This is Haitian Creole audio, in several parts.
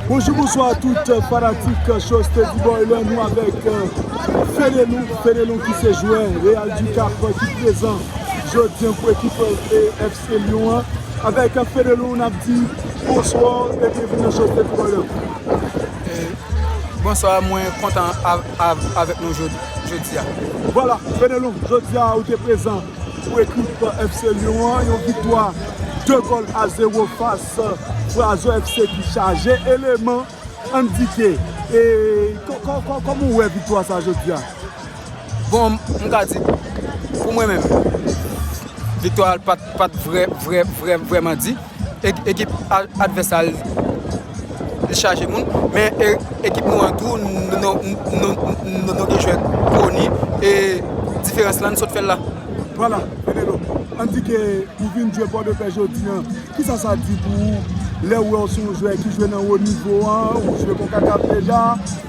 Bonjou bonswa tout fanatik show Steady Boy lan nou avèk Fenelon, Fenelon ki se jwè Real du Cap ki prezan jodi pou ekip FC Lyon an avèk Fenelon n ap di bonswa e byenvini nan show Steady Boy lan. Bonswa mwen kontan avèk nou jodi a. Vwala Fenelon jodi a ou te prezan. Pou ekip FC Lyon an, yon viktwa 2 gòl a 0 fas Brazo FC ki chaje eleman. Anndike, kòman ou wè viktwa sa jodi a? Bon, m ka di, pou mwen menm, viktwa pa t vrèman di. Ekip advès la li chaje moun men ekip nou an tou nou gen jwè koni e diferans la n sot fè l la. Vwala Enelo, ann di ke ou vin jwe Pòdepè jodi an, kisa sa di pou ou lè ou wè ou se yon jwè ki jwe nan wo nivo an, ou jwe konkakaf deja,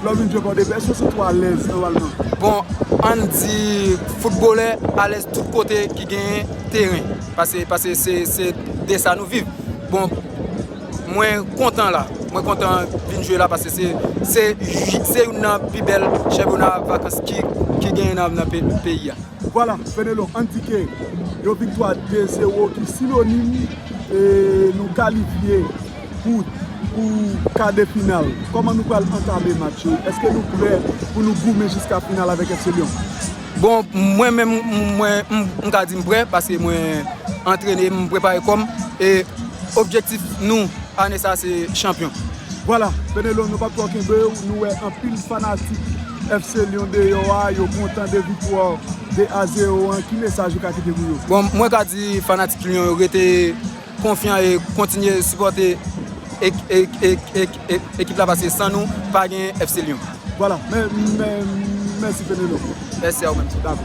lè ou vin jwe Pòdepè, èske ou santi ou alèz nòmalman? Bon, ann di foutbolè alèz tout kote ki gen teren. Pase pase se se de sa nou viv bon mwen kontan la mwen kontan vin jwe la pase se se se youn nan pi bèl chenpyona vakans ki ki genyen nan nan peyi a. Vwala Fenelon endike yon viktwa 2 zero ki sinonim e nou kalifye pou pou ka de final kòman nou pral antame match yo eske nou prè pou nou goumen jiska final avèk FC Lyon? Bon mwen menm mwen m ka di m prè paske mwen antrene m prepare kòm e objektif nou ane sa se chanpyon. Vwala Fenelon nou pap twò kenbew nou wè anpil fanatik FC Lyon deyò a yo kontan de viktwa 2 a 0 an ki mesaj ou ka kite pou yo? Bon mwen ka di fanatik Lyon yo rete konfyan e kontinye sipòte ekip la paske san nou pa gen FC Lyon. Voilà mèsi Penelope. Mèsi a ou menm tou. Dakò.